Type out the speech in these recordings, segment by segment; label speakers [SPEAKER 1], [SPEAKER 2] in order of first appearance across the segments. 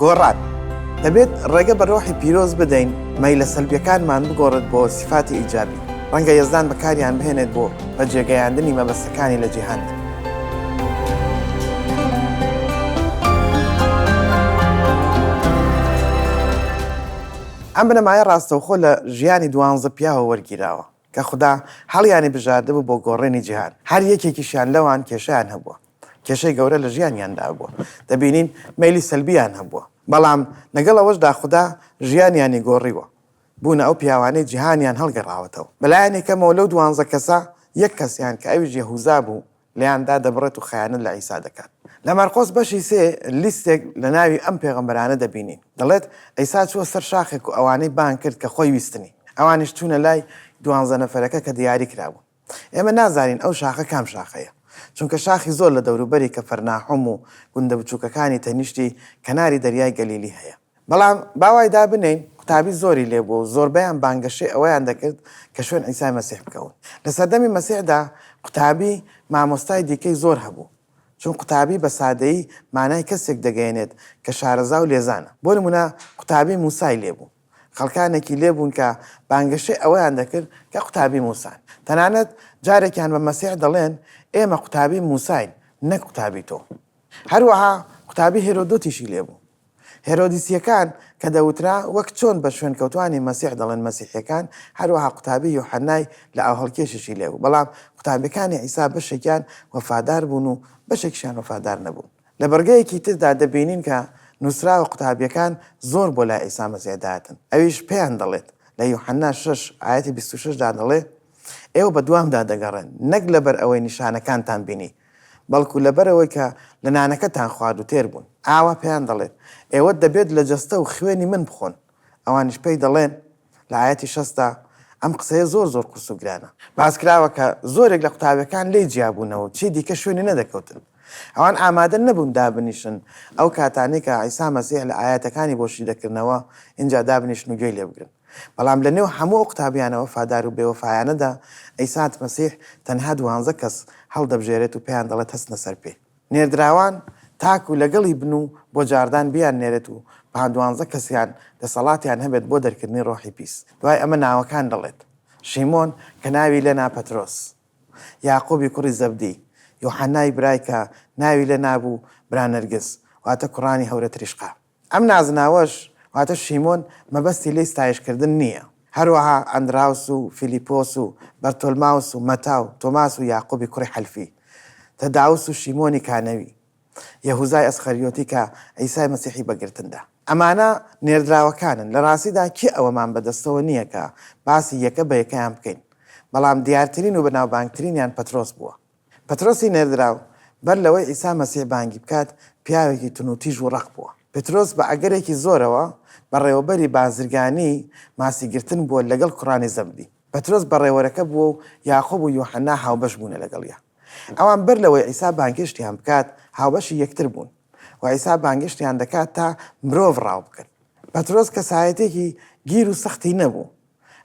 [SPEAKER 1] گۆڕان دەبێت ڕێگە بە ڕۆحی پیرۆز بدەین مەی لە سەلبیەکانمان بگۆڕێت بۆ سیفاتی ئیجابی ڕەنگە یەزدان بەکاریان بهێنێت بۆ بە جێگەیاندنی مەبەستەکانی لە جیهاندا ئەم بنەمایە ڕاستەوخۆ لە ژیانی دوانزە پیاوە وەرگیراوە کە خودا هەڵیانی بژاردبوو بۆ گۆڕێنی جیهان، هەر یەکێکیشیان لەوان کێشەیان هەبووە، کێشەی گەورە لە ژیانیاندا هەبووە، دەبینین مەیلی سەلبییان هەبووە، بەڵام لەگەڵ ئەوەشدا خودا ژیانیانی گۆڕیوە، بوونە ئەو پیاوانەی جیهانیان هەڵگەڕاوەتەوە. بەلایەنی کەمەوە لەو دوانزە کەسە، یەک کەسیان کە ئەویش یەهوزا بوو، لێیان دادەبڕێت و خەیانەت لە عیسا دەکات. لە مەرقۆس بەشی سێ لیستێک لە ناوی ئەم پێغەمبەرانە دەبینین. دەڵێت، عیسا چووە سەر شاخێک و ئەوانەی بانگ کرد کە خۆی ویستنی. ئەوانیش چوونە لای دوانزە نەفەرەکە کە دیاری کرابوون. ئێمە نازانین ئەو شاخە کام شاخەیە. چونکە شاخی زۆر لە دەوروبەری کەفەرناحوم و گوندە بچووکەکانی تەنیشتی کەناری دەریای گەلیلی هەیە. بەڵام با وای دا بنێین قوتابی زۆری لێ بووە و زۆربەیان بانگەشەی ئەوەیان دەکرد کە شوێن عیسای مەسیح بکەون. لە سەردەمی مەسیحدا قوتابی مامۆستای دیکەی زۆر هەبوو، چون قوتابی بە سادەیی مانای کەسێک دەگەیەنێت کە شارەزا و لێزانە. بۆ نموونە قوتابی موسای لێ بوو. خەڵکانێکی لێ بوون کە بانگەشەی ئەوەیان دەکرد کە قوتابی موسان. تەنانەت جارێکیان بە مەسیح دەڵێن، ئێمە قوتابی موساین، نەک قوتابی تۆ. هەروەها قوتابی هێرۆدۆتیشی لێ بوو. هێرۆدیسییەکان کە دەوترا، وەک چۆن بە شوێنکەوتووانی مەسیح دەڵێن مەسیحییەکان، هەروەها قوتابی یوحەننای لەئاوهەڵکێشیشی لێبوو، بەڵام قوتابییەکانی عیسا بەشێکیان وەفادار بوون و بەشێکیشیان وەفادار نەبوون. لە بڕگەیەکی تردا دەبینین کە نووسراوە قوتابییەکان زۆر بۆ لای عیسا مەسیح دەهاتن، ئەویش پێیان دەڵێت، لە یوحەننا شەش ئایەتی بیست و شەش دا دەڵێ، ئێوە بەدوامدا دەگەڕێن، نەک لەبەر ئەوەی نیشانەکانتان بینی، بەڵکو لەبەرئەوەی کە لە نانەکەتان خوارد و تێر بوون. ئاوا پێیان دەڵێت، ئێوە دەبێت لە جەستە و خوێنی من بخۆن. ئەوانیش پێی دەڵێن، لە ئایەتی شەست دا، ئەم قسەیە زۆر زۆر قورس و گرانە. باس کراوە کە زۆرێک لە قوتابیەکان لێی جیا بوونەوە و چی دیکە شوێنی نەدەکەوتن. ئەوان ئامادە نەبوون دابنیشن ئەو کاتانەی کە عیسا مەسیح لە ئایەتەکانی بۆ شی دەکردنەوە، ئینجا دابنیشن و گوێی لێ بگرن. بەڵام لە نێو هەموو ئەو قوتابیانە وەفادار و بێوەفایانەدا، عیسات مەسیح تەنها دوانزە کەس هەڵدەبژێرێت و پێیان دەڵێت هەستنە سەر پێ. نێردراوان تاکو لەگەڵی بن و بۆ جاڕدان بیاننێرێت و پان دوانزە کەسیان دەسەڵاتیان هەبێت بۆ دەرکردنی ڕۆحی پیس. دوای ئەمە ناوەکان دەڵێت، شیمۆن کە ناوی لێ نا پەترۆس، یاقوبی کوڕی زەبدی، یوحەنای برای کە ناوی لێ نابوو برا نەرگس، واتە کوڕانی هەورە تریشقە. ئەم نازناوەش، واتە شیمۆن، مەبەستی لێی ستایشکردن نییە. هەروەها ئەندراوس و فیلیپۆس و بەرتۆلماوس و مەتا و تۆماس و یاقوبی کوڕی حەلفی، تەداوس و شیمۆنی کانەوی، یەهوزای ئەسخەریۆتی کە عیسای مەسیحی بە گرتن دا. ئەمانە نێردراوەکانن. لە ڕاستیدا کێ ئەوەمان بە دەستەوە نییە کە باسی یەکە بە یەکەیان بکەین، بەڵام دیارترین و بەناوبانگترینیان پەترۆس بووە. پەترۆسی نێردراو بەر لەوەی عیسا مەسیح بانگی بکات، پیاوێکی تونوتیژ و ڕەق بووە. پترۆس بە ئەگەرێکی زۆرەوە بەڕێوەبەری بازرگانی ماسیگرتن بووە لەگەڵ کوڕانی زەبدی. پترۆس بەڕێوەرەکە بووە و یاقوب و یوحەنا هاوبەش بوونە لەگەڵیا. ئەوان بەر لەوەی عیسا بانگێشتیان بکات، هاوبەشی یەکتر بوون و عیسا بانگێشتیان دەکات تا مرۆڤ ڕاو بکەن. پترۆس کەسایەتیەکی گیر و سەختی نەبوو،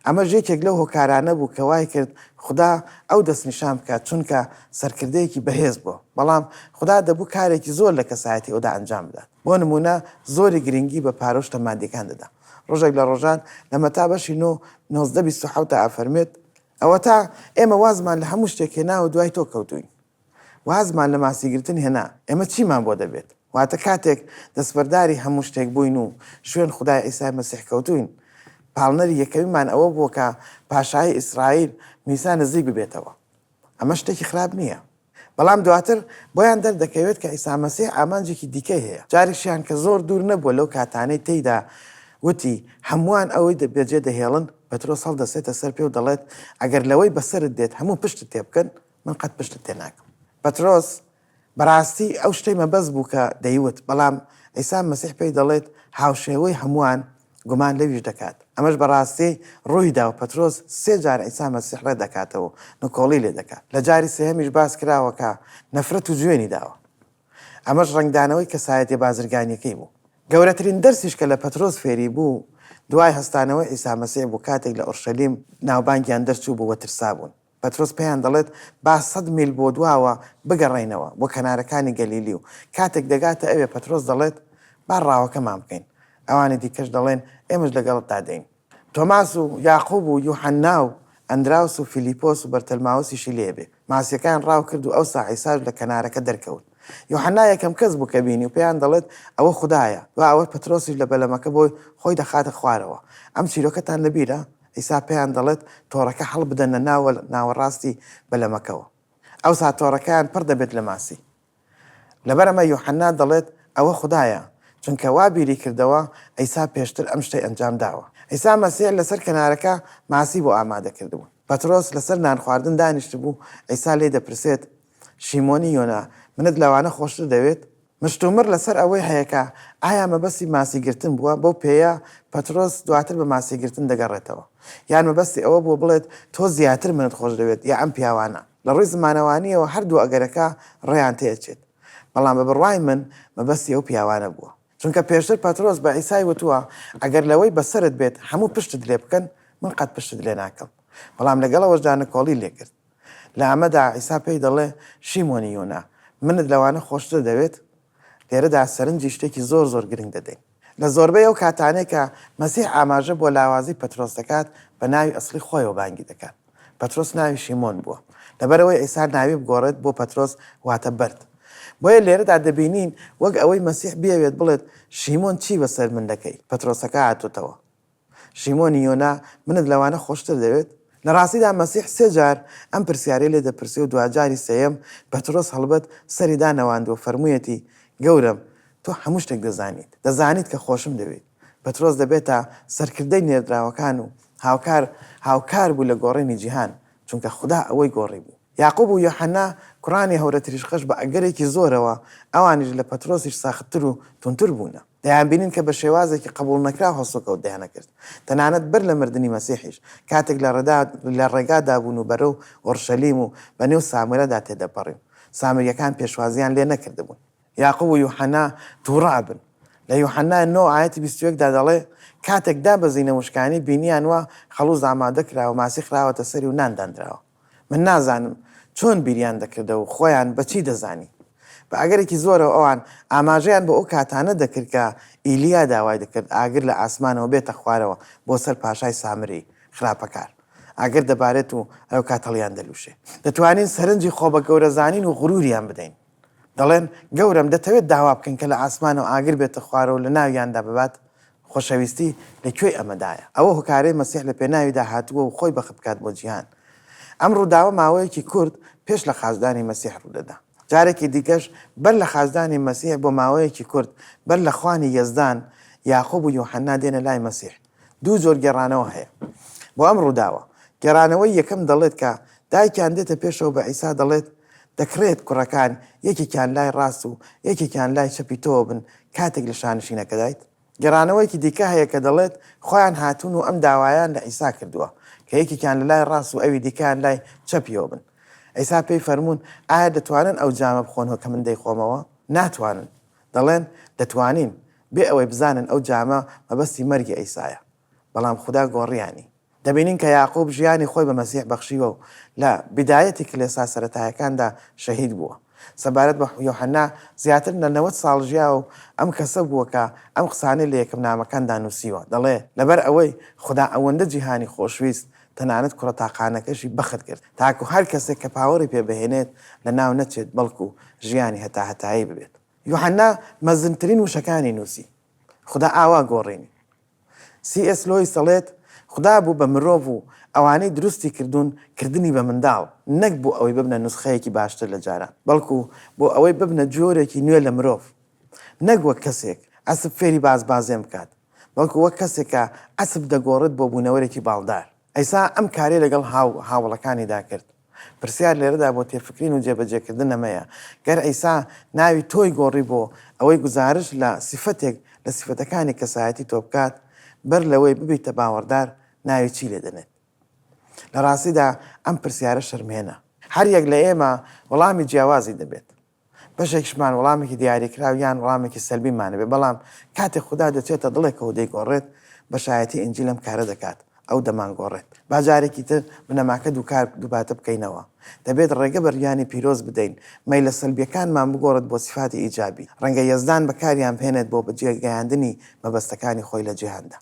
[SPEAKER 1] ئەمەش یەکێک لەو هۆکارانە بوو کە وای کرد خودا ئەو دەستنیشان بکات، چونکە سەرکردەیەکی بەهێز بووە. بەڵام خودا دەبوو کارێکی زۆر لە کەسایەتی ئەودا ئەنجام بدات. بۆ نموونە زۆری گرنگی بە پارۆشتە مادییەکان دەدا. ڕۆژێک لە ڕۆژان لە مەتا بەشی نۆ، نۆزدە بیست و حەوت دا ئەفەرموێت، ئەوەتا ئێمە وازمان لە هەموو شتێک هێناوە دوای تۆ کەوتووین. وازمان لە ماسیگرتن هێنا، ئێمە چیمان بۆ دەبێت؟ واتە کاتێک دەستبەرداری هەموو شتێک بووین و شوێن خودای عیسای مەسیح کەوتووین، پاڵنەری یەکەمیمان ئەوە بووە کە پاشایی ئیسرائیل میسا نزیک ببێتەوە. ئەمە شتێکی خراپ نییە. بەڵام دواتر بۆیان دەردەکەوێت کە عیسا مەسیح ئامانجێکی دیکەی هەیە، جارێکیشیان کە زۆر دوور نەبووە لەو کاتانەی تێیدا وتی، هەمووان ئەوی بەجێدەهێڵن، پەترۆس هەڵدەستێتە سەر پێ و دەڵێت، ئەگەر لەوەی بەسەرت دێت هەموو پشتت تێبکەن، من قەت پشتت تێ ناکەم. پەترۆس، بەڕاستی ئەو شتەی مەبەست بوو کە دەیوت، بەڵام عیسا مەسیح پێی دەڵێت، هاوشێوەی هەمووان گومان لەویش دەکات. ئەمەش بە ڕاستی ڕووی دا و پەترۆس سێ جار عیسا مەسیح ڕێد دەکاتەوە و نکۆڵی لێ دەکات. لە جاری سێهەمیش باس کراوە کە نەفرەت و جوێنی داوە. ئەمەش ڕەنگدانەوەی کەسایەتیە بازرگانیەکەی بوو. گەورەترین دەرسیش کە لە پەترۆس فێری بوو دوای هەستانەوەی عیسا مەسیح بوو کاتێک لە ئۆرشەلیم ناوبانگیان دەرچوو بوو و ترسابوون. پەترۆس پێیان دەڵێت، با سەد میل بۆ دواوە بگەڕێینەوە، بۆ کەنارەکانی گەلیلی و کاتێک دەگاتە ئەوێ پەترۆس دەڵێت، با ڕاوەکەمان بکەین. ئەوانی دیکەش دەڵێن، ئێمەش لەگەڵتدا دێین. تۆماس و یاقوب و یوحەنا و ئەندراوس و فیلیپۆس و بەرتەلماوسیشی لێ بێ، ماسییەکەیان ڕاو کرد و ئەوسا عیساش لە کەنارەکە دەرکەوت. یوحەنا یەکەم کەس بوو کە بینی و پێیان دەڵێت، ئەوە خودایە. دوا ئەوە پەترۆسیش لە بەلەمەکە بۆی خۆی دەخاتە خوارەوە. ئەم چیرۆکەتان لە بیرە؟ ئیسا پێیان دەڵێت، تۆڕەکە هەڵبدەنە ناوە ناوەڕاستی بەلەمەکەوە. ئەوسا تۆڕەکەیان پڕ دەبێت لە ماسی. لەبەر ئەمە یوحەنا دەڵێت، ئەوە خودایە، چونکە وا بیری کردەوە عیسا پێشتر ئەم شتەی ئەنجام داوە. عیسا مەسیح لەسەر کەنارەکە ماسی بۆ ئامادە کردبوو. پەترۆس لەسەر نانخواردن دانیشتبوو، عیسا لێی دەپرسێت، شیمۆنی یۆنا، منت لەوانە خۆشتر دەوێت؟ مشتومڕ لەسەر ئەوەی هەیە کە ئایا مەبەستی ماسیگرتن بووە، بەو پێیە پەترۆس دواتر بە ماسیگرتن دەگەڕێتەوە، یان مەبەستی ئەوە بووە بڵێت تۆ زیاتر منت خۆشدەوێت یا ئەم پیاوانە. لە ڕووی زمانەوانییەوە هەردوو ئەگەرەکە ڕێیان تێدەچێت، بەڵام بە بڕوای من مەبەستی ئەو پیاوانە بووە، چونکە پێشتر پەترۆس بە عیسای وتووە ئەگەر لەوەی بەسەرت بێت هەموو پشتت لێبکەن، من قەت پشتت لێناکەم، بەڵام لەگەڵ ئەوەشدا نکۆڵی لێکرد. لە ئەمەدا عیسا پێی دەڵێ، شیمۆنی یۆنا، منت لەوانە خۆشتر دەوێت؟ لێرەدا سەرنجی شتێکی زۆر زۆر گرنگ دەدەین. لە زۆربەی ئەو کاتانەی کە مەسیح ئاماژە بۆ لاوازی پەترۆس دەکات، بە ناوی ئەسڵی خۆیەوە بانگی دەکات. پەترۆس ناوی شیمۆن بووە. لەبەرئەوەی عیسا ناوی بگۆڕێت بۆ پەترۆس واتە بەرد. بۆیە لێرەدا دەبینین وەک ئەوەی مەسیح بیەوێت بڵێت، شیمۆن چی بەسەر من دەکەی؟ پەترۆسەکە هاتۆتەوە. شیمۆنی یۆنا، منت لەوانە خۆشتر دەوێت؟ لە ڕاستیدا مەسیح سێ جار ئەم پرسیارەی لێ دەپرسێ و دواجاری سێیەم، پەترۆس هەڵبەت سەری دانەواند و فەرموویەتی، گەورەم، تۆ هەموو شتێک دەزانیت، دەزانیت کە خۆشم دەوێیت. پەترۆس دەبێتە سەرکردەی نێردراوەکان و هاوکار هاوکار بوو لە گۆڕینی جیهان، چونکە خودا ئەوی گۆڕیبوو. یاقوب و یۆحەنا، کوڕانی هەورە تریشقەش بە ئەگەرێکی زۆرەوە، ئەوانیش لە پەترۆسیش ساختتر و توندتر بوونە. دەیانبینن کە بە شێوازێکی قەبووڵنەکراو هەڵسوکەوت دەیانەکرد، تەنانەت بەر لە مردنی مەسیحیش، کاتێک لە ڕێدا لە ڕێگادا بوون و بەرەو ئۆڕشەلیم و بەنێو سامرەدا تێدەپەڕی و سامرییەکان پێشوازییان لێ نەکردبوون. یاقوب و یوحەنا تووڕە ئەبن. لە یوحەنا نۆ ئایەتی بیست و یەک دا دەڵێ، کاتێک دابەزینە وشکانی، بینییان وا خەڵووز ئامادە کراوە، ماسی خراوەتە سەری و نان داندراوە. من نازانم چۆن بیریان دەکردە و خۆیان بە چی دەزانی. بە ئەگەرێکی زۆرەوە ئەوان ئاماژەیان بۆ ئەو کاتانە دەکرد کە ئیلیا داوای دەکرد ئاگر لە ئاسمانەوە بێتە خوارەوە بۆ سەر پاشای سامری خراپەکار. ئاگر دەبارێت و ئەوکات هەڵیان دەلووشێ. دەتوانین سەرنجی خۆبەگەورەزانین و غروریان بدەین. دەڵێن، گەورەم دەتەوێت داوا بکەن کە لە ئاسمانەوە ئاگر بێتە خوارەوە و لە ناویاندا ببات؟ خۆشەویستی لە کوێی ئەمەدایە؟ ئەوە هۆکارەی مەسیح لە پێناویدا هاتبووە و خۆی بەخت بکات بۆ جیهان. ئەم ڕووداوە ماوەیەکی کورت پێش لە خاچدانی مەسیح ڕوودەدا. جارێکی دیکەش بەر لە خاچدانی مەسیح بۆ ماوەیەکی کورت بەر لە خوانی یەزدان، یاقوب و یوحەنا دێنە لای مەسیح. دوو جۆر گێڕانەوە هەیە بۆ ئەم ڕووداوە، گێڕانەوەی یەکەم دەڵێت کە دایکیان دێتە پێشەوە بە عیسا دەڵێت، دەکڕێت کوڕەکان یەکێکیان لای ڕاست و یەکێکیان لای چەپی تۆوە بن کاتێک لە شانشینەکەدایت؟ گێڕانەوەیەکی دیکە هەیە کە دەڵێت، خۆیان هاتوون و ئەم داوایان لە عیسا کردووە کە یەکێکیان لە لای ڕاست و ئەوی دیکەیان لای چەپیەوە بن. عیسا پێی فەرموون، ئایا دەتوانن ئەو جامە بخۆنەوە کە من دەیخۆمەوە؟ ناتوانن. دەڵێن دەتوانین، بێ ئەوەی بزانن ئەو جامە مەبەستی مەرگی عیسایە، بەڵام خودا گۆڕیانی. دەبینین کە یاقوب ژیانی خۆی بە مەسیح بەخشیوە و لە بیدایەتی کلێسا سەرەتایەکاندا شەهید بووە. سەبارەت بە یۆحەنا، زیاتر لە نەوەد ساڵ ژیاوە و ئەم کەسە بووە کە ئەم قسانەی لە یەکەم نامەکاندا نووسیوە، دەڵێ، لەبەر ئەوەی خودا ئەوەندە جیهانی خۆشویست، تەنانەت کوڕە تاقانەکەشی بەخت کرد، تاکو هەر کەسێک کە پاوەڕی پێ بهێنێت لەناو نەچێت، بەڵکو ژیانی هەتاهەتایی ببێت. یوحەنا مەزنترین وشەکانی نووسی، خودا ئاوا گۆڕینی. سی ئێس لۆیس دەڵێت، خودا بۆ بە مرۆڤ و ئەوانەی دروستی کردوون کردنی بە منداڵ، نەک بۆ ئەوەی ببنە نوسخەیەکی باشتر لە جاران، بەڵکو بۆ ئەوەی ببنە جۆرێکی نوێ لە مرۆڤ، نەک وەک کەسێک ئەسپ فێری بازبازێن بکات. بەڵکو وەک کەسێک کە عەسپ دەگۆڕێت بۆ بوونەوەرێکی باڵدار. ئەیسا ئەم کارەی لەگەڵ هاو هاوەڵەکانیدا کرد. پرسیار لێرەدا بۆ تێفکرین و جێبەجێکردن ئەمەیە، گەر عیسا ناوی تۆی گۆڕی بۆ ئەوەی گوزارشت لە سیفەتێک لە سیفەتەکانی کەسایەتی تۆ بکات، بەر لەوەی ببیتە باوەڕدار ناوی چی لێدەنێت؟ لە ڕاستیدا ئەم پرسیارە شەرمهێنە. هەر یەک لە ئێمە وەڵامی جیاوازی دەبێت. بەشێکیشمان وەڵامێکی دیاریکراو یان وەڵامێکی سەلبیمان هەبێت، بەڵام کاتێک خودا دەچێتە دڵێکەوە و دەیگۆڕێت، بەشایەتی ئینجیل ئەم کارە دەکات، ئەو دەمانگۆڕێت. با جارێکی تر بنەماکە دووکار دووپاتە بکەینەوە. دەبێت ڕێگە بە ڕیانی پیرۆز بدەین مەیلە سەلبییەکانمان بگۆڕێت بۆ سیفاتی ئیجابی. ڕەنگە یەزدان بەکاریان بهێنێت بۆ بەجێگەیاندنی مەبەستەکانی خۆی لە جیهاندا.